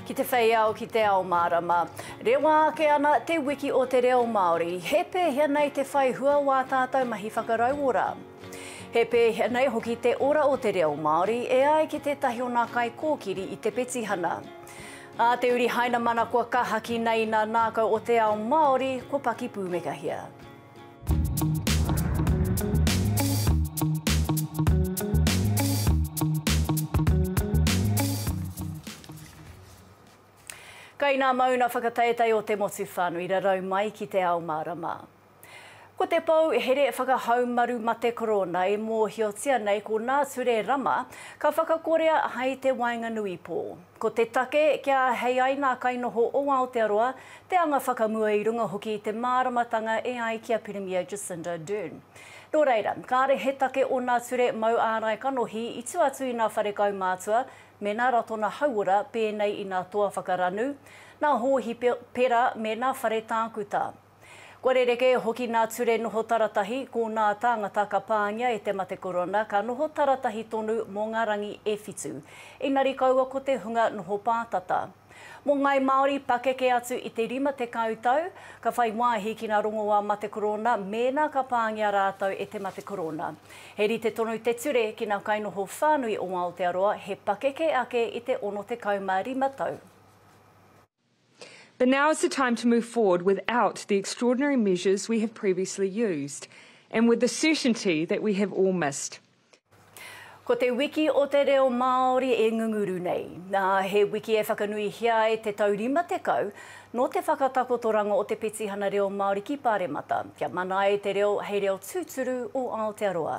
Ki te whei ao, ki te ao mārama. Rewa ake ana te wiki o te reo Māori. He pēhea nei te whai hua o ā tātou mahi whakarauora? He pēhea nei hoki te ora o te reo Māori e ai ki tētahi o nā kaikōkiri i te petihana? Ā te uri Hainamana kua kahaki nei nā nākau o te ao Māori, kua paki pūmekahia. Kai ngā mauna whakateitei o te motu whānui rarau mai ki te ao mārama. Ko te pou here whakahaumaru mate korona e mōhiotia nei ko nā Ture Rama ka whakakorea hai te waenganui pō. Ko te take, kia āhei ai ngā kainoho o Aotearoa te anga whakamua i runga hoki i te māramatanga e ai ki a Pirimia Jacinda Ardern. Nō reira, kāre he take ōna ture mau ārai kanohi i tua atu i nā whare kaumātua me nā Ratona Hauora pēnei i nā toa whakaranu, nā Hōhi Pera me nā whare tākuta. Kua rerekē hoki nā ture noho taratahi, ko nā tāngata ka pāngia e te mate korona ka noho taratahi tonu mō ngā rangi e whitu, engari kaua ko te hunga noho pātata. Mō ngāi Māori, pakeke atu i te 50 tau, ka whai wāhi ki ngā rongoā mate korona mēnā ka pāngia rātou e te mate korona. He rite tonu te ture ki ngā kainoho whānui o Aotearoa he pakeke ake i te 65 tau. But now is the time to move forward without the extraordinary measures we have previously used, and with the certainty that we have all missed. Ko te wiki o te reo Māori e ngunguru nei. Nā, he wiki e whakanuihia ai te tau 50 nō te whakatakotoranga o te Petihana Reo Māori ki Pāremata, kia mana ai te reo hei reo tūturu o Aotearoa.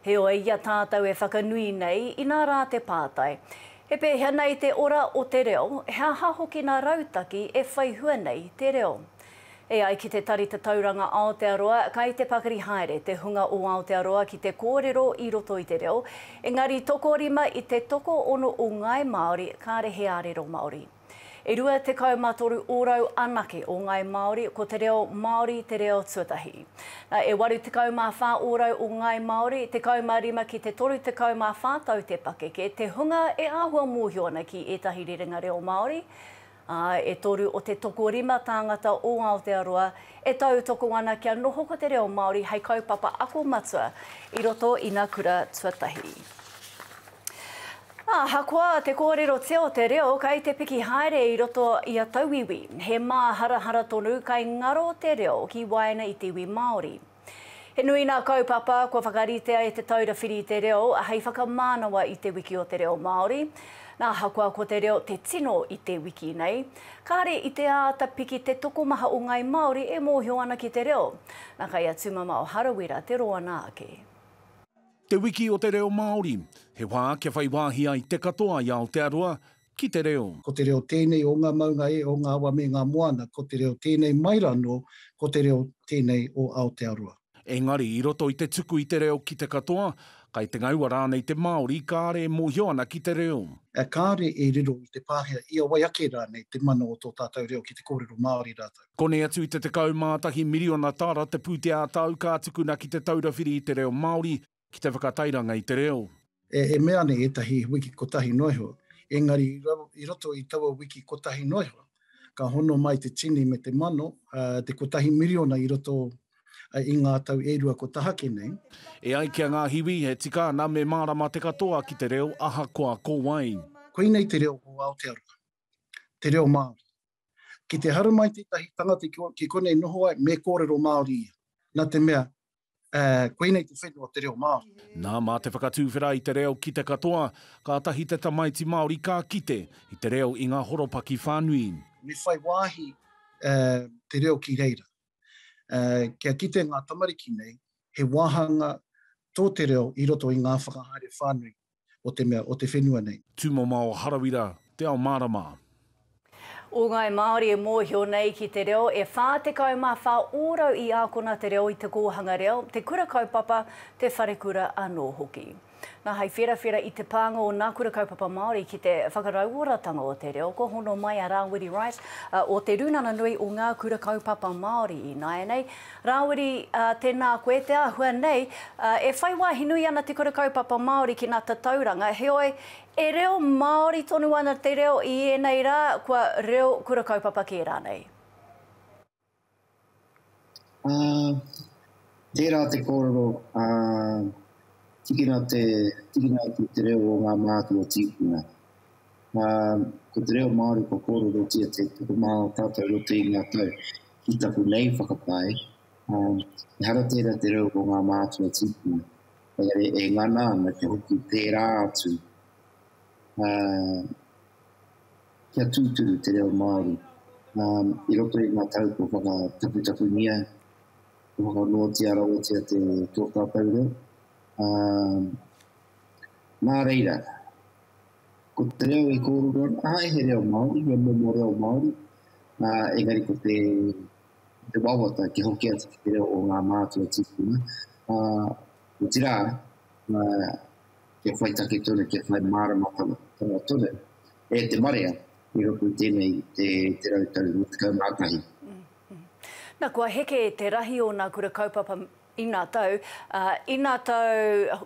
Heoi, i a tātou e whakanui nei, inā rā te pātai, He pēhea nei te ora o te reo, he aha hoki nā rautaki e whai hua nei te reo? E ai ki Te Tari Tatauranga Aotearoa, kai te pakari haere te hunga o Aotearoa ki te kōrero i roto i te reo, engari tokorima i te tokoono o ngāi Māori kāre he ārero Māori. E rua tekau ma toru orau anake o ngai Maori, ko te reo Maori te reo tuatahi. Na, e waru tekau ma wha orau o ngai Maori, tekau ma rima ki te toru tekau ma wha tau te pakeke, te hunga e ahua mohio ana ki etahi rerenga reo Maori, a, e toru o te tokorima tāngata o Aotearoa e tautoko ana kia noho ko te reo Maori hei kaupapa ako matua i roto ina kura tuatahi. Ahakoa te kōrerotia o te reo kei te piki haere i roto i a tauiwi, he māharahara tonu kei ngaro te reo ki waena i te iwi Māori. He nui ngā kaupapa kua whakaritea e Te Taura Whiri i te Reo hei whakamānawa i Te Wiki o te Reo Māori. Nā, ahakoa ko te reo te tino i te wiki nei, kāre i te āta piki te tokomaha o ngāi Māori e mōhio ana ki te reo. Nā, kei a Tūmamao Harawira te roanga ake. Te Wiki o te Reo Māori, he wā kia whai wāhi ai te katoa i Aotearoa ki te reo. Ko te reo tēnei o ngā maunga e, o ngā awa me ngā moana, ko te reo tēnei mai rā anō, ko te reo tēnei o Aotearoa. Engari, i roto i te tuku i te reo ki te katoa, kai te ngaua rānei te Māori, kāre e mōhio ana ki te reo. Kāre e riro i te Pākehā, i a wai ake rānei te mana o tō tātou reo ki te kōrero Māori rātou. Konei atu i te 11 miriona tāra te pūtea ā-tau ka tukuna ki Te Taura Whiri i te Reo Māori ki te whakatairanga i te reo. E mea nei ētahi wiki kotahi noa iho, engari i roto i taua wiki kotahi noa iho, ka hono mai te tini me te mano, te kotahi miriona i roto i ngā tau e rua kua tahake nei. E ai ki a Ngahiwi, e tika ana me mārama te katoa ki te reo ahakoa ko wai. Koinei te reo o Aotearoa, te reo Māori. Ki te haru mai tētahi tangata ki konei noho ai, me kōrero Māori ia. Nā te mea, Uh, koinei te whenua o te reo Māori. Nā, mā te whakatūwhera i te reo ki te katoa, kātahi te tamaiti Māori ka kite i te reo i ngā horopaki whānui. Me whai wāhi uh, te reo ki reira. Uh, kia kite ngā tamariki nei, he wāhanga tō te reo i roto i ngā whakahaere whānui o te mea, o te whenua nei. Tūmama o Harawira, Te Ao Mārama. O ngāi Māori e mōhio nei ki te reo, e 44 ōrau i ākona te reo i te kōhanga reo, te kura kaupapa, te wharekura anō hoki. Nā, hei wherawhera i te pānga o nā kura kaupapa Māori ki te whakarauoratanga o te reo, kua hono mai a Rāwiri Wright, o Te Rūnanga Nui o Ngā Kura Kaupapa Māori ināianei, Rāwiri, Ā, tēnā koe te āhua nei. Ā, e whai wāhi nui ana te kura kaupapa Māori ki ngā tatauranga, heoi, e reo Māori tonu ana te reo i ēnei rā, kua reo kura kaupapa kē rānei? Ā, tērā te kōrero, ā, tikina te, tikina atu te reo o ngā mātua o tīpuna. Ā, ko te reo Māori kua kōrerotia te tokomā o tātou roto i ngā tau. Ki taku nei whakapae, ehara tērā te reo o ngā mātua tīpuna, engari e ngana ana kia hoki pērā atu kia tūturu te reo Māori i roto i ngā tau kua whakataputapungia, kua whakanoatia rawatia tō tātou reo. Nā reira. Ko te reo i kōrero ana, āe, he reo Māori, he momo reo Māori, ā, engari ko te, te wawata kia hoki atu ki te reo o ngā mātua tīpuna, ā, otirā, ā, kia whai take tonu, kia whai mārama tonu, tonu e te marea i roto i tēnei te, te rau tau mā tekau mā tahi. Na, kua heke te rahi o nā kura kaupapa ina tau, ā, ina tau,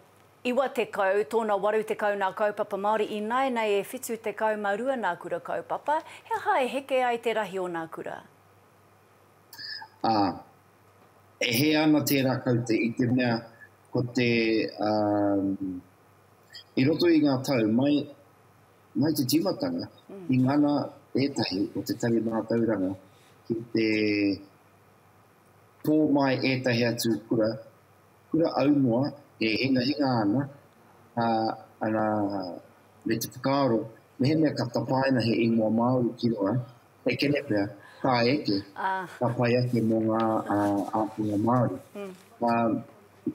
Iwa tekau, tōna waru tekau nā kaupapa Māori ināianei e whitu tekau ma rua nā kura kaupapa, he aha e heke ai te rahi o nā kura? Ā, e hē ana tērā kaute i te mea ko te, i roto i ngā tau mai, mai te tīmatanga, i ngana ētahi o te tari mātauranga ki te pō mai ētahi atu kura, Kura aunoa e hingahinga ana, ā, ana me te whakaaro, mehemea ka tapaina he ingoa Māori ki runga, he kene pea, ka eke, ka pai ake mō ngā ākonga Māori. Ā,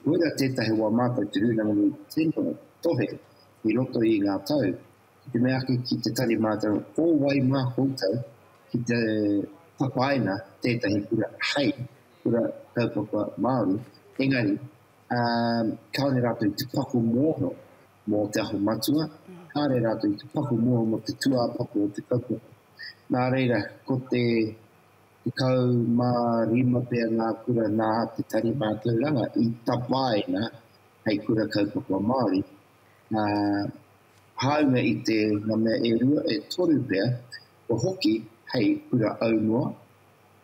koirā tētahi o ā mātou Te Rūnanga Nui Tino tohe i roto i ngā tau, ki te mea ake ki te tari mātou, ko wai mā koutou ki te tapaina tētahi kura hei kura kaupapa Māori, engari um, kāore rātou i te paku mōho mō te aho matua, kāore rātou i te paku mōho mō te tuāpapa o te kaupapa. Nā reira, ko te te kau mā rima pia ngā kura nā te tari mātauranga i tapaina hei kura kaupapa Māori, Nā, hāunga i te ngā mea e rua, e toru pea, kua hoki hei kura aunoa,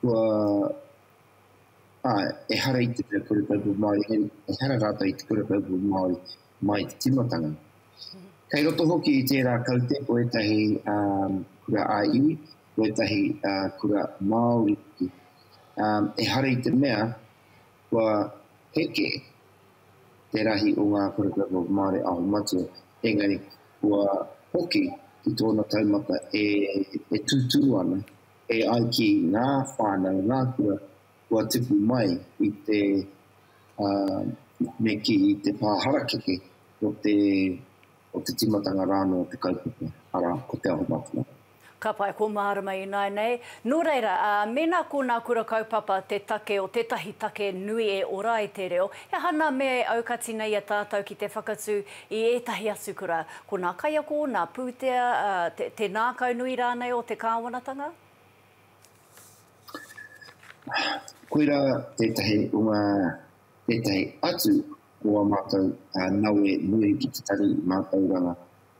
kua, āe, ehara i te mea kura kaupapa Māori, hei, ehara rātou i te kura kaupapa Māori mai i te tīmatanga. Kei roto hoki i tērā kaute ko ētahi kura ā-iwi, ko ētahi kura Māori hoki. Ehara i te mea, Kua heke te rahi o ngā paragraph of Māori Aho Matua, engari kua hoki ki tōna taumata e tūtū ana, e ai ki ngā whānau, ngā kura kua tipu mai i te me kī i te pā harakeke o te. o te tīmatanga rānō o te kaupapa, arā, ko Te Aho Matua. Ka pai ko mārama ināinei. Nō reira, ā, mēnā ko nā kura kaupapa te take o tētahi take nui e ora ai te reo, he aha nā mea e aukati nei i a tātou ki te whakatū i ētahi atu kura, ko nā kaiako, nā pūtea, ā, te, te nākaunui rānei o te kāwanatanga? Koirā tētahi o ngā tētahi atu o ā mātou nawe nui ki te tari mātauranga.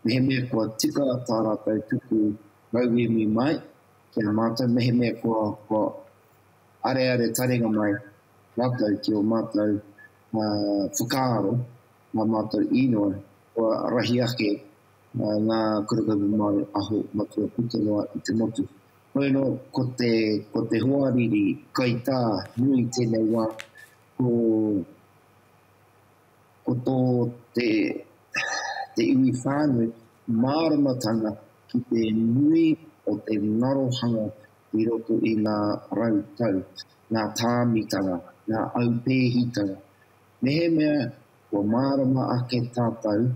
Mehemea kua tika tā rātou tuku rauemi mai ki a mātou, mehemea kua areare taringa mai rātou ki ō mātou whakaaro, ngā mātou īnoi, kua rahi ake Mā ngā kaupapa Māori aho matua puta noa i te motu. Hoi anō, ko te, ko te hoariri kaitā nui i tēnei wā, ko, ko tō te, te iwi whānui māramatanga ki te nui o te ngarohanga i roto i ngā rau tau, ngā tāmitanga, ngā aupēhitanga. Mehemea kua mārama ake tātou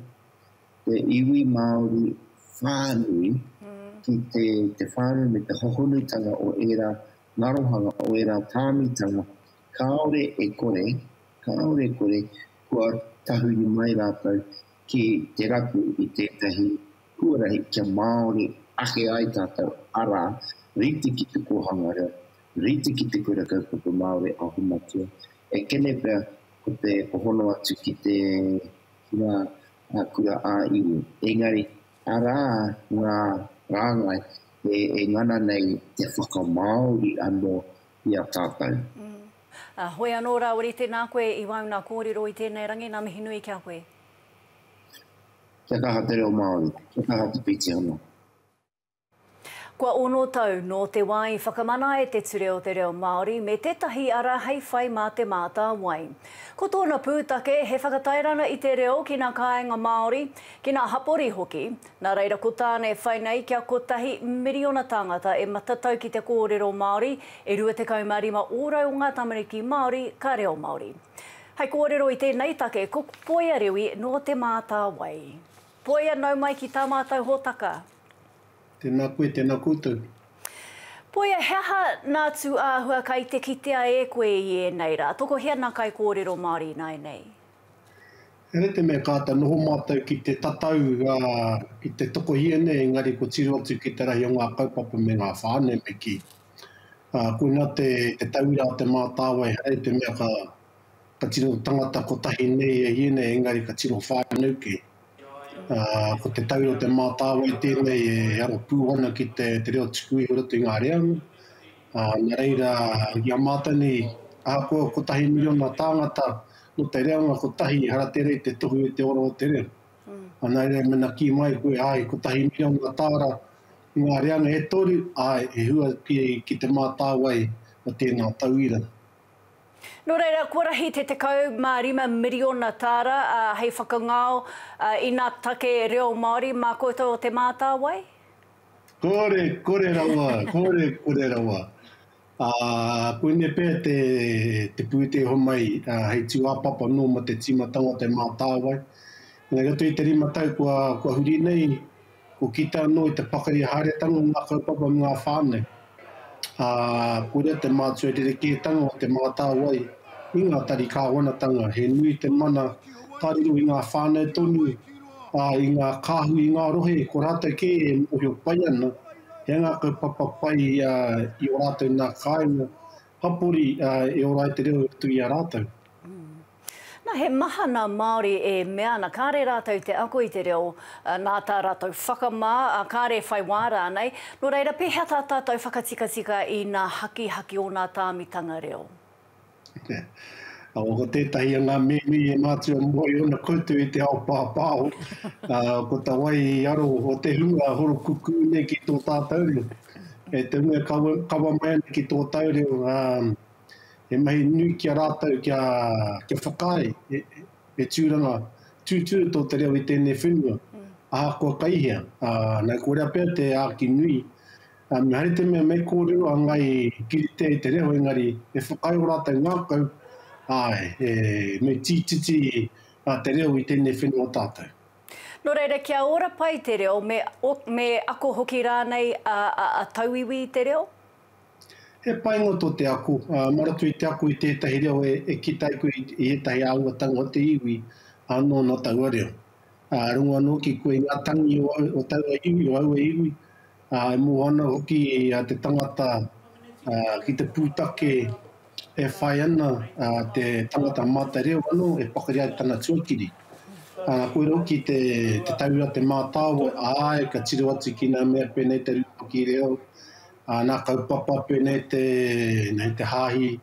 te iwi Māori whānui ki te te whānui me te hohonutanga o ērā ngarohanga, o ērā tāmitanga, kāore e kore, kāore e kore kua tahuri mai rātou ki te rapu i tētahi huarahi kia Māori ake ai tātou, arā, rite ki te kōhanga reo, rite ki te Kura Kaupapa Māori Ahu Matua, ekene pea ko te hono atu ki te ki ngā kura ā-iwi. Engari, arā ngā rāngai e ngana nei te whakamāori anō i a tātou. Ā, hoi anō rāwari, tēnā koe i wauna kōrero i tēnei rangi, ngā mihi nui ki a koe. Kia kaha te reo Māori, kia kaha te pītihana. Kua ono tau nō te wā i whakamana ai te Ture o te Reo Māori me tētahi ara hei whai mā Te Mātāwai. Ko tōna pūtake he whakatairanga i te reo ki nā kāinga Māori, ki nā hapori hoki, nā reira ko tāna e whai nei kia kotahi miriona tāngata e matatau ki te kōrero Māori, e 25 ōrau o ngā tamariki Māori ka reo Māori. Hei kōrero i tēnei take ko Poia Rewi nō Te Mātāwai. Poia, nau mai ki tā mātou hōtaka. Tēnā koe, tēnā koutou. Poia, he aha nā tū āhua kai te kitea e koe i ēnei rā? Tokohia nā kaikōrero Māori ināinei. Here te mea kāta noho mātou ki te tatau, ki te tokohia nei, engari kua tiro atu ki te rahi o ngā kaupapa me ngā whānau me kī. Koinā te tauira a Te Mātāwai, here te mea ka. ka tino tangata kotahi nei e ienei engari ka tino whānau kē. Ko te taura o Te Mātāwai tēnei e aro pū ana ki te reo tuku iho roto i ngā reanga, nā reira i a mātou nei ahakoa kotahi miriona tāngata nō te reanga kotahi ehara tērā i te tohu i te ora o te reo. Nā reira mena kī mai koe āe kotahi miriona tāra i ngā reanga e toru, āe he hua ki Te Mātāwai o tēnā tauira. Nō reira, kua rahi te 15 miriona tāra hei whakangao i ngā take reo Māori mā koutou o Te Mātāwai? Kore, kore rawa, kore, kore rawa. Ā, koinei pea te, te pūtea homai hei tūāpapa nō mō te tīmatanga o Te Mātāwai. Engari, atu i te rima tau kua, kua huri nei, Kua kitea anō i te pakari haeretanga o ngā kaupapa me ngā whānau, ā, koira te mātua rerekētanga o te mātāwai i ngā tari kāwanatanga. He nui te mana ka riro i ngā whānau tonu, ā, i ngā kāhui, i ngā rohe, ko rātou kē e mōhio pai ana he aha ngā kaupapa pai i ō rātou nā kāinga, Hapori, ā, e ora ai te reo atu i a rātou. Na, he maha na Maori e mea ana kare ratou te ako i te reo, na ta ratou whakama, a kare whai wa ranei, no reira pehea ta tatou whakatikatika i na hakihaki o na tamitanga reo? Awa, ko tetahi o nga mimi e matua mo i ona koutou i te ao papaho, a, ko ta wai i aro o te hunga horokuku nei ki to tatou reo. Kei te mea kawa mai ana ki tō tau reo, he mahi nui ki a rātou kia whakaae he tūranga tūtū tō te reo i tēnei whenua, ahakoa kai hea. Nā, ko rea pea te āki nui, me haere te mea mei kōrero a ngai kiritea i te reo, engari e whakaae o rātou ngākau, āe, mei tītiti te reo i tēnei whenua o tātou. Nō reira, kia ora pai te reo, me, me ako hoki rānei a, a, a tauiwi i te reo? He painga tō te ako, ā, mā roto i te ako i tētahi reo e, e kite ai koe i ētahi āhuatanga o te iwi, ā, nōna taua reo. Ā, rongo anō ki koe i ngā tangi o, o taua iwi, o aua iwi, ā, e mōhana hoki te tangata ki te pūtake e whai ana te tangata mātai reo anō e pakari ai tana tuakiri. Ā, koirā hoki te tau a Te Mātāwai, āe, ka tiro atu ki ngā mea pēnei te rūpaki reo, ngā kaupapa pēnei te hāhi,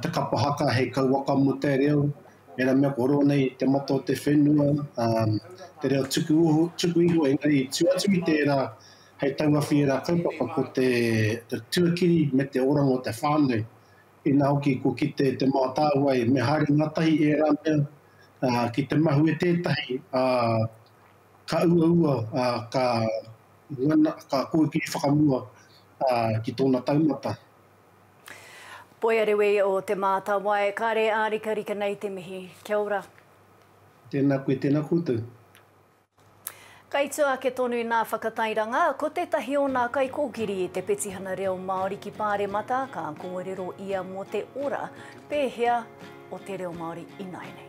te kapa haka hei kauwaka mo te reo, era mea ko ronei te mata o te whenua, te reo tuku tuku iho engari i tu atu i tera hei tauawhi era kaupapa ko te tuakiri me te oranga o te whanau, ina hoki kua kite te mātāwai me haere ngatahi era mea ki te mahue tetahi ka uaua ka ngana ka kōkiri whakamua ki tona taumata. Poiarewe o Te Mātāwai, kāre ārikarika nei te mihi. Kia ora. Tēnā koe, tēnā koutou. Kai tua ake tonu nā Whakatairanga, ko tētahi o nā kaikōkiri i te petihana reo Māori ki Pāremata, ka kōrero ia mō te ora pēhea o te reo Māori ināianei.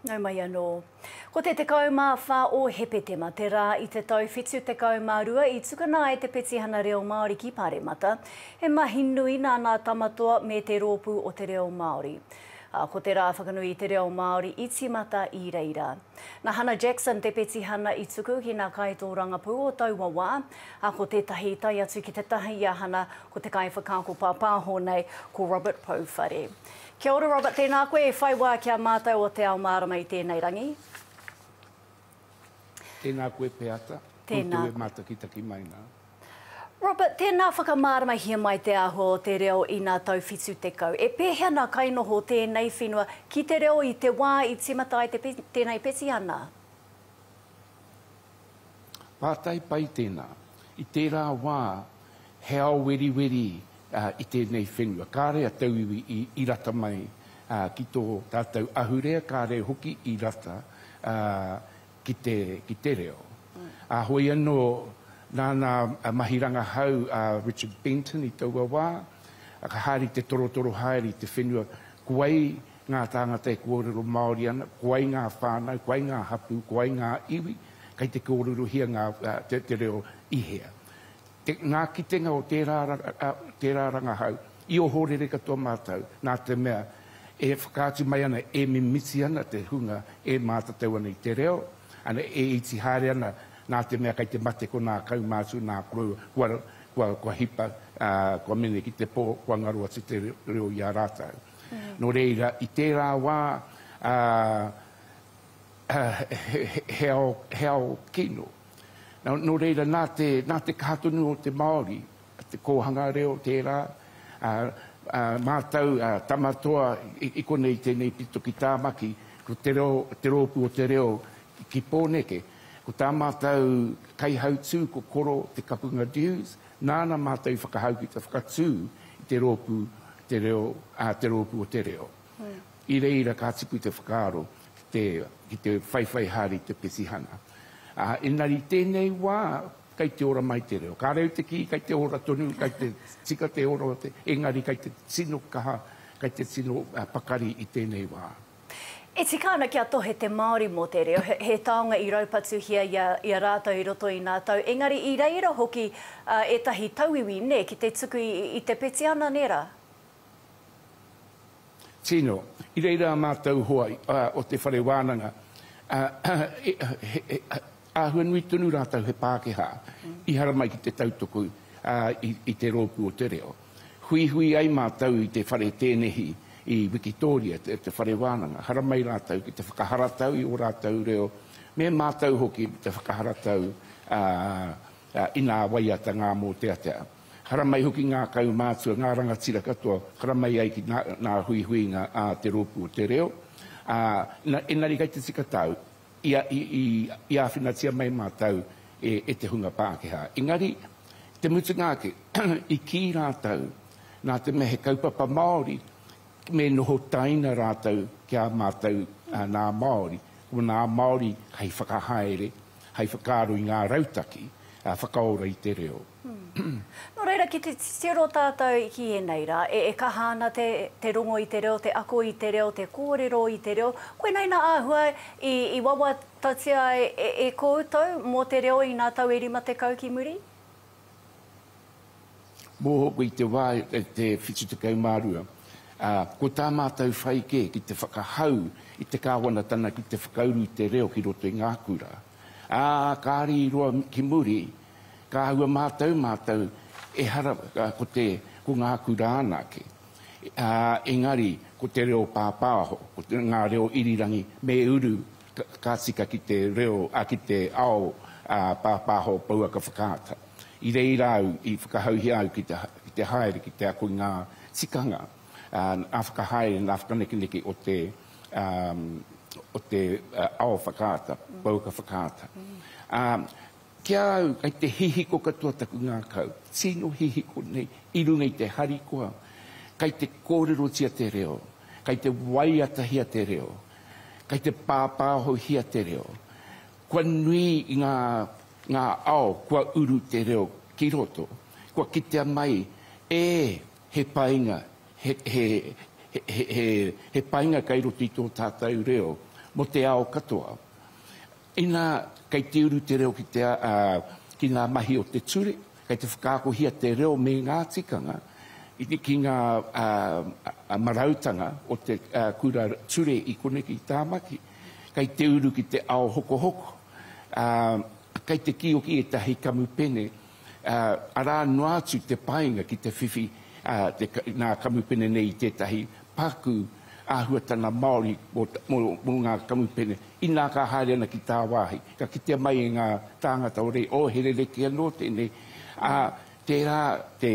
Nau mai anō. Ko te 14 o Hepetema te rā i te tau 72 i tukuna ai te Petihana Reo Māori ki Paremata. He mahi nui nā Ngā Tamatoa me Te Rōpū o Te Reo Māori. ā, ko te rā whakanui i te reo Māori i tīmata i reira. Nā Hannah Jackson te petihana i tuku ki ngā kaitōrangapū o taua wā, ā, ko tētahi i tae atu ki te taha i a Hannah ko te kaiwhakaako pāpāho nei, ko Robert Pouwhare. Kia ora Robert, tēnā koe e whai wā ki a mātou o Te Ao Mārama i tēnei rangi. Tēnā koe Peata, koutou e mātakitaki mai nā. Robert, tēnā whakamāramahia mai te āhua o te reo inā tau 70. E pēhea nā kainoho o tēnei whenua ki te reo i te wā i tīmata ai tēnei petihana? Pātai pai tēnā. I tērā wā, he ao weriweri i tēnei whenua. Kāre a tauiwi i rata mai ki tō tātou ahurea, kāre hoki i rata ki te reo. Ā, hoi anō, nāna a mahi rangahau a Richard Benton i taua wā, ka haere te torotoro haere i te whenua, ko ai ngā tāngata e kōrero Māori ana, ko ai ngā whānau, ko ai ngā hapū, ko ai ngā iwi, kei te kōrerohia te reo i hea. Ngā kitenga o tērā rangahau i ohorere katoa mātou nā te mea e whakaatu mai ana, e mimiti ana te hunga e mātatau ana i te reo, ana, e iti haere ana nā te mea kei te mate ko nā kaumātua, nā koroua, kua hipa, kua mene ki te pō, kua ngaro atu te reo i a rātou. Nō reira, i tērā wā, he ao kino. Nō reira, nā te, nā te kaha tonu o te Māori, te kōhanga reo tērā, ā, ā, mātau, ā, tama toa i, i konei tēnei pito ki Tāmaki, ko te reo, te rōpū o te reo ki, ki Pōneke. Ko tā mātau kaihautū ko Koro Te Kapunga Dewes, nāna mātau i whakahau ki te whakatū i te rōpū, te reo, ā, te rōpū o te reo. I reira ka tipu te whakaaro ki te ki te whaiwhai haere i te petihana. Ā, engari i tēnei wā, kei te ora mai te reo. Kāre au te kī, kei te ora tonu, kei te tika te ora o te, engari kei te tino kaha, kei te tino pakari i tēnei wā. E tika ana kia tohe te Māori mō te reo, he he taonga i raupatuhia i a i a rātou i roto i ngā tau, engari i reira hoki ētahi tauiwi, nē, ki te tuku i i te petihana, nē rā? Tino, I reira a mātou hoa o te whare wānanga, he āhua nui tonu rātou he Pākehā i haramai ki te tautoko i te rōpū o te reo. Huihui ai mātou i te whare tēnehi i Wikitōria, te whare wānanga, haramai rātou ki te whakaharatau i ō rātou reo, me mātou hoki te whakaharatau inā waiata ngā mōteatea. Haramai hoki ngā kaumātua, ngā rangatira katoa, haramai ai ki ngā huihuinga a te Rōpū o te Reo, ā, engari kei te tika tāu, i āwhinatia mai mātou e te hunga Pākehā. Engari, i te mutunga ake, i kī rātou, nā te mea he kaupapa Māori, me noho taina rātou ki a mātou nā Māori, ko nā Māori hei whakahaere, hei whakaaro i ngā rautaki whakaora i te reo. Nō reira, ki te titiro tātou ki ēnei rā, e kaha ana te rongo i te reo, te ako i te reo, te kōrero i te reo. Koinei nā āhua i wawatatia e koutou mō te reo inā tau e 50 ki muri? Mōhoko i te wā e te 72, ā, ko tā mātou whai kē ki te whakahau i te Kāwanatanga ki te whakauru i te reo ki roto i ngā kura. Ā, kāre i roa ki muri, ka āhua mātau mātou, ehara ko te, ko ngā kura anake, ā, engari ko te reo pāpāho, ko ngā reo irirangi me uru, Ka tika ki te reo, ā, ki te ao, ā, pāpāho pouaka whakaata. I reira au i whakahauhia au ki te, ki te haere, ki te ako i ngā tikanga, ā, ngā whakahaere, ngā whakanekeneke o te, ā, o te ao whakaata, pouaka whakaata. Ā, ki a au, kei te hihiko katoa taku ngākau, tino hihiko nei, i runga i te harikoa, kei te kōrerotia te reo, kei te waiatahia te reo. Kei te pāpāhohia te reo. Kua nui i ngā, ngā ao kua uru te reo ki roto. Kua kitea mai, ē, he painga, he, he, he, he, he painga kei roto i tō tātou reo mō te ao katoa. Inā, kei te uru te reo ki te, ā, ki ngā mahi o te ture, kei te whakaakohia te reo me ngā tikanga ki ngā, ā, marautanga o te, ā, kura ture i konei ki Tāmaki. Kei te uru ki te ao hokohoko, ā, kei te kīoki ētahi kamupene arā noa atu te painga ki te whiwhi nā kamupene nei i tētahi paku āhuatanga Māori mō ngā kamupene, inā ka haere ana ki tāwāhi, ka kitea mai e ngā tāngata o reira, oh, he rerekē anō tēnei, ā, tērā te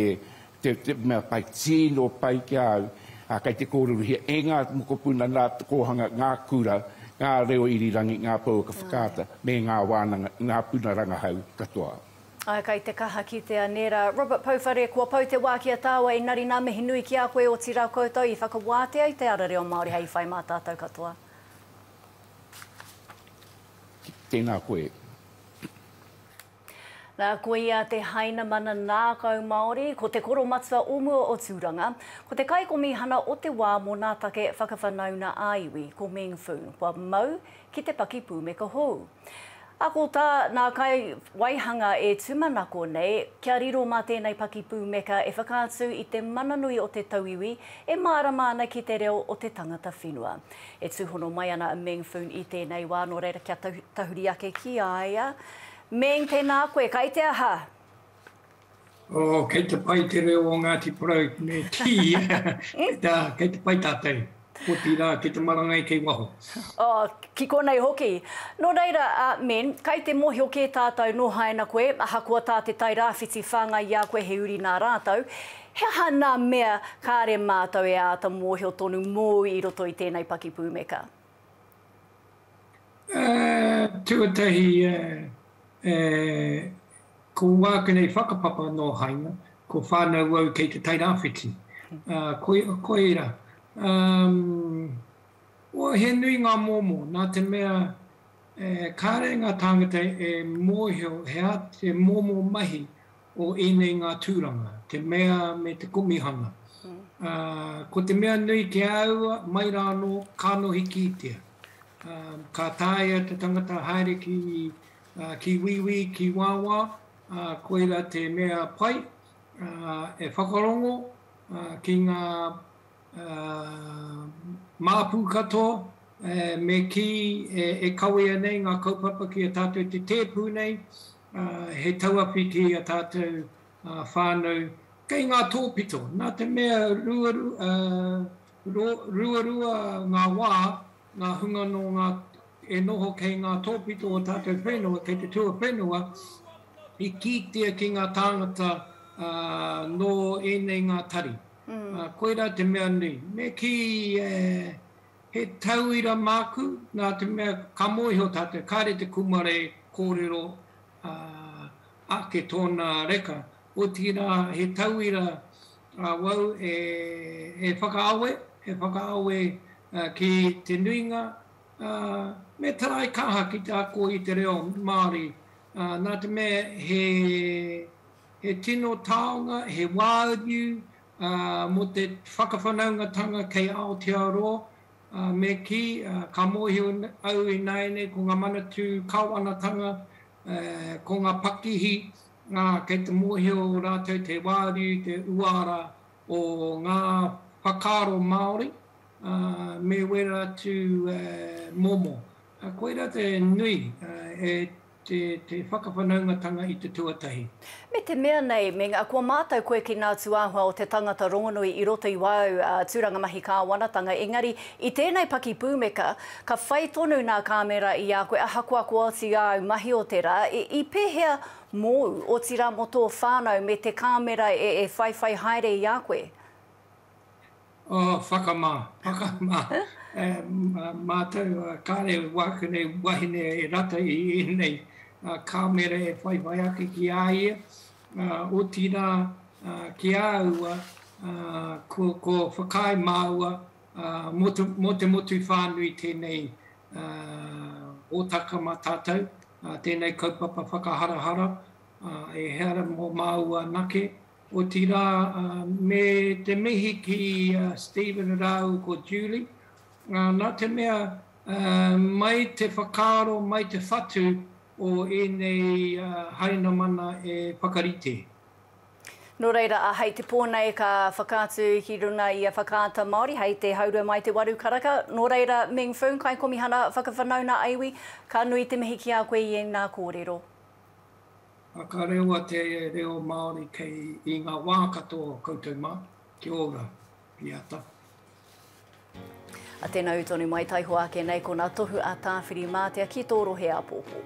Te mea whai tino pai ki a au, a, kei te kōrerohia e ngā mokopuna nā te kōhanga ngā kura, ngā reo irirangi, ngā pouaka whakaata me ngā wānanga, ngā puna rangahau katoa. Ae, kai te kaha kitea nera. Robert Pouwhare, Kua pau te wa ki a taua engari na mihi nui ki a koe otira koutou i whakawātea i te ara reo Māori hei whai mā tātou katoa. Tēnā koe. Nā, ko ia te Hainamana Nākau Māori, ko Te Koromatua o mua o Tūranga, ko te kaikomihana o te wā mō nā take whakawhanauna ā-iwi, ko Meng Foon, kua mau ki te pakipūmeka hou. A ko tā nā kai waihanga e tūmanako nei, kia riro mā tēnei pakipūmeka e whakaatu i te mana nui o te tauiwi e mārama ana ki te reo o te tangata whenua. E tūhono mai ana a Meng Foon i tēnei wā, nō reira kia tahuri ake ki a ia, Meng, Tēnā koe, kai te aha? Oh, kei te pai te reo o Ngāti Porou me Tiia. Nā, kei te pai tātou. Otirā, kei te marangai kei waho. Oh, ki konei hoki. Nō reira, a Meng, kai te mōhio kē tātou nō haina koe, ahakoa tā te Tairāwhiti whāngai i a koe he uri nā rātou, he aha nā mea kāre mātou e āta mōhio tonu mōu i roto i tēnei pakipūmeka? Tuatahi, ko wāku nei whakapapa nō Haina, ko whānau au kei te Tairāwhiti. Ko ērā. He nui ngā momo, nā te mea kāre ngā tāngata e mōhio he momo mahi o ēnei ngā tūranga, te mea me te komihana. Ā, ko te mea nui ki a aua, mai rā anō, kānohi kītia. Ā, ka tāia te tangata haere ki, ā, ki wīwī, ki wāwā, ā, koira te mea pai, ā, e whakarongo, ā, ki ngā, ā, māpu katoa, ē, me kī, e, e kawea nei ngā kaupapa ki a tātou te tēpu nei, he tauawhi ki a tātou whānau kei ngā tōpito. Nā te mea ruarua ngā wā, ngā hunga nō ngā, e noho kei ngā tōpito o tātou whenua, kei te tuawhenua, i kītia ki ngā tāngata nō ēnei ngā tari. Koirā te mea nui. Me kī e He tauira māku, nā te mea ka mōhio tātou, kāre te kūmare kōrero ake tōna reka, otirā he tauira awau e whakaawe, e whakaawe ki te nuinga, me taraikaha ki te ako i te reo Māori, nā te mea he tino taonga, he wāriu Mō te whakawhanaungatanga kei Aotearoa, me kī, ka mōhio au ināianei ko ngā manatū kāwanatanga, ko ngā pakihi, kei te mōhio rātou te wāriu, te uara o ngā whakaaro Māori, me wera atu momo. Koirā te nui e te whakawhanaungatanga i te tuatahi. Me te mea nei, me nga, kua mātau koe ki ngā tūāhua o te tangata rongonui i roto i wāu tūranga mahi kāwanatanga, engari, i tēnei paki pūmeka, ka whai tonu nā kāmera i a koe, ahakoa ko oti āu mahi o te rā, i pēhea mōu, otirā mō tō whānau me te kāmera e whaiwhai haere i a koe? Oh, whakamā, whakamā. Mātou, kāre wāku nei wahine e rata i ēnei kāmera e whaiwhai ake ki a ia, otirā ki a aua ko whakaae māua mō te motu whānui tēnei hōtaka mā tātou, tēnei kaupapa whakaharahara, ehara mō māua anake, Otirā, me te mihi ki a Stephen rāua ko Julie, nā te mea mai te whakaaro, mai te whatu o ēnei Hainamana e whakarite. Nō reira, hei te pō nei ka whakaatu ki runga i a Whakaata Māori hei te haurua mai te waru karaka. Nō reira, Meng Foong, Kaikomihana Whakawhanaunga Iwi, ka nui te mihi ki a koe i ēnā kōrero. a ka rewa te reo Māori kei i ngā wā katoa o koutou mā. Kia ora, Piata. A tena u tonu mai taihoa ake nei ko na tohu a Tawhiri Matea ki to rohe apopo.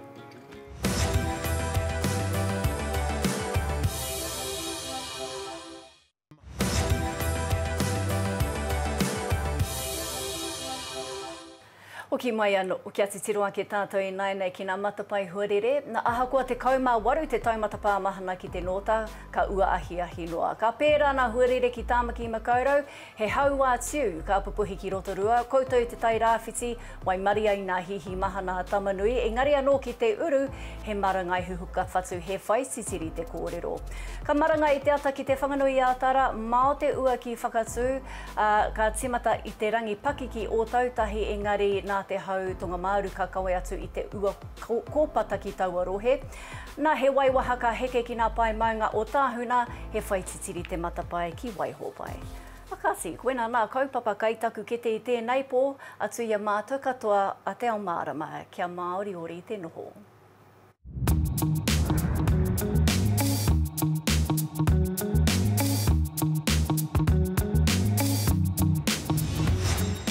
Hoki mai anō, kia titiro ake tātou ināianei ki ngā matapae huarere, nā, ahakoa 18 te taumata pāmahana ki te nōta, ka ua ahiahi noa. Ka pērā ngā huarere ki Tāmaki Makaurau, he hauā tiu ka pupuhi ki Rotorua, koutou te tai rāwhiti, Waimarie ai nā Hihi Mahana a Tamanui, engari anō ki te uru, he marangai huhuka whatu, he whai titiri te kōrero. Ka marangai i te ata ki Te Whanganui-ā-Tara, mao te ua ki Whakatū, ā, ka tīmata i te rangi pakiki Ōtautahi, engari nā te hau tonga-māru ka kawe atu i te ua kōpata ki taua rohe. Nā, he waiwaha ka heke ki nā pae maunga o Tāhuna, he whai titiri te matapae ki Waihōpae. Whakati, koina nā kaupapa kai taku kete i tēnei pō, atu i a mātou katoa a Te Ao Mārama, kia māoriori te noho.